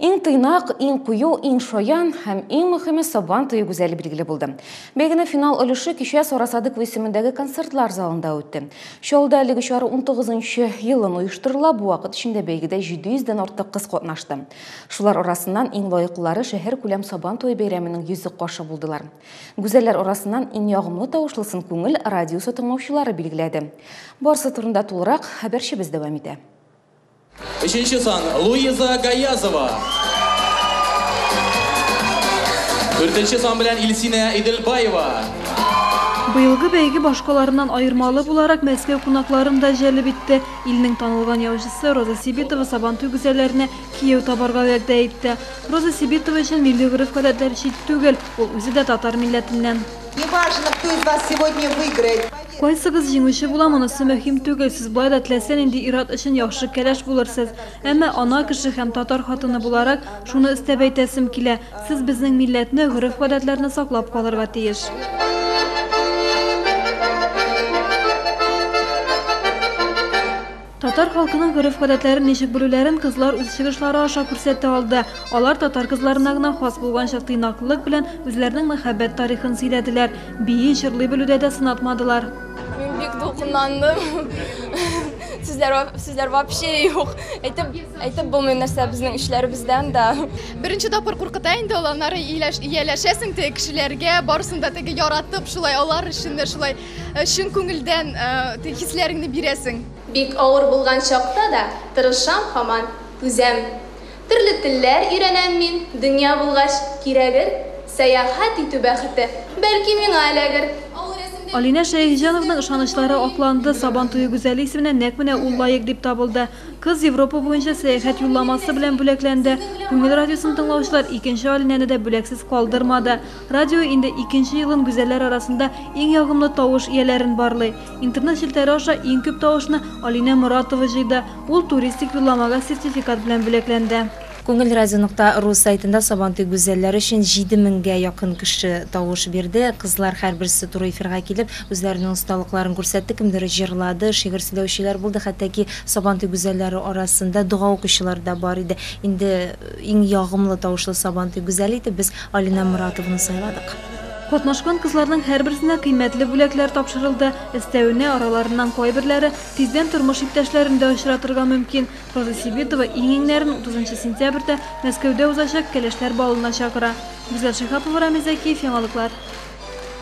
Иң тыйнак, иң кую, иң шаян һәм иң мөхиме Сабан туе гүзәле билгеле булды. Бәйгенең финал өлеше кичә Сарасадык исемендәге концертлар залында үтте. Чаллыда әлеге чара 19-нчы елын оештырыла, бу вакыт эчендә бәйгедә 700 дән артык кыз катнашты. Шулар арасыннан иң лаеклылары шәһәр күләм Сабан туе бәйрәменең йөзек кашы булдылар. Гүзәлләр арасыннан иң ягымлы тавышлысын Күңел радиосы тыңлаучылары билгеләде. Барсы турында тулырак хәбәрчебез дәвам итә. Өченче сан, Луиза Гаязова. Дүртенче сан белән Илсинә Иделбаева. Быелгы бәйге башкаларыннан аермалы буларак Мәскәү кунакларын да җәлеп итте. Илнең танылган яучысы Роза Сибитова Сабантуй гүзәлләренә кияү табарга вәгъдә итте. Роза Сибитова өчен милли гореф-гадәтләр чит түгел, ул үзе дә татар милләтеннән. Не важно, кто из вас сегодня выиграет. Кайсыгыз җиңүче була, монысы мөһим түгел, сез болай да теләсә нинди ир-ат өчен яхшы кәләш булырсыз. Әмма ана кеше һәм татар хатыны буларак, шуны өстәп әйтәсем килә, сез безнең милләтне, гореф-гадәтләрне саклап калырга тиеш. Татар халкының гореф-гадәтләрен ничек белүләрен кызлар үз чыгышлары аша күрсәтә алды. Алар татар кызларына гына хас булганча тыйнаклылык белән үзләренең мәхәббәт тарихын сөйләделәр. Бии, җырлый белүдә дә сынатмадылар. Мин бик дулкынландым. Сүзләр, сүзләр вообще юк. Әйтеп, әйтеп булмый нәрсә безнең эчләребездән дә. Беренче тапкыр куркыта инде ул, аннары ияләшәсең теге кешеләргә, барысын да теге яратып, шулай алар өчен дә шулай. Чын күңелдән хисләреңне бирәсең. Бик авыр булган чакта да тырышам һаман, түзәм. Төрле телләр өйрәнәм мин, дөнья булгач, кирәгер. Сәяхәт итү бәхете, бәлки, миңа эләгер. Алинә Шәехҗановның ышанычлары акланды, Сабантуе гүзәле исеменә нәкъ менә ул лаек дип табылды. Кыз Европа буенча сәяхәт юлламасы белән бүләкләнде. Күңел радиосын тыңлаучылар икенче Алинәне дә бүләксез калдырмады. Радио инде икенче елын гүзәлләр арасында иң ягымлы тавыш ияләрен барлый. Интернет челтәре аша иң күп тавышны Алинә Моратова җыйды, ул туристик юлламага сертификат белән бүләкләнде. Күңел Радио нокта ру сайтында Сабантуй гүзәлләре өчен җиде меңгә якын кеше тавыш бирде. Кызлар һәрберсе туры эфирга килеп, үзләренең осталыкларын күрсәтте, кемдер җырлады, шигырь сөйләүчеләр булды, хәтта ки Сабантуй гүзәлләре арасында дога укучылар да бар иде. Инде Иң ягымлы тавышлы Сабантуй гүзәле итеп без Алинә Моратованы сайладык. Катнашкан кызларның һәрберсенә кыйммәтле бүләкләр тапшырылды. Өстәвенә, араларыннан кайберләре тиздән тормыш иптәшләрен дә очратырга мөмкин. Роза Сибитова иң-иңнәрен утызынчы сентябрьдә Мәскәүдә узачак Кәләшләр балына чакыра. Гүзәл Шиһапова, Рамил Зәкиев, Яңалыклар.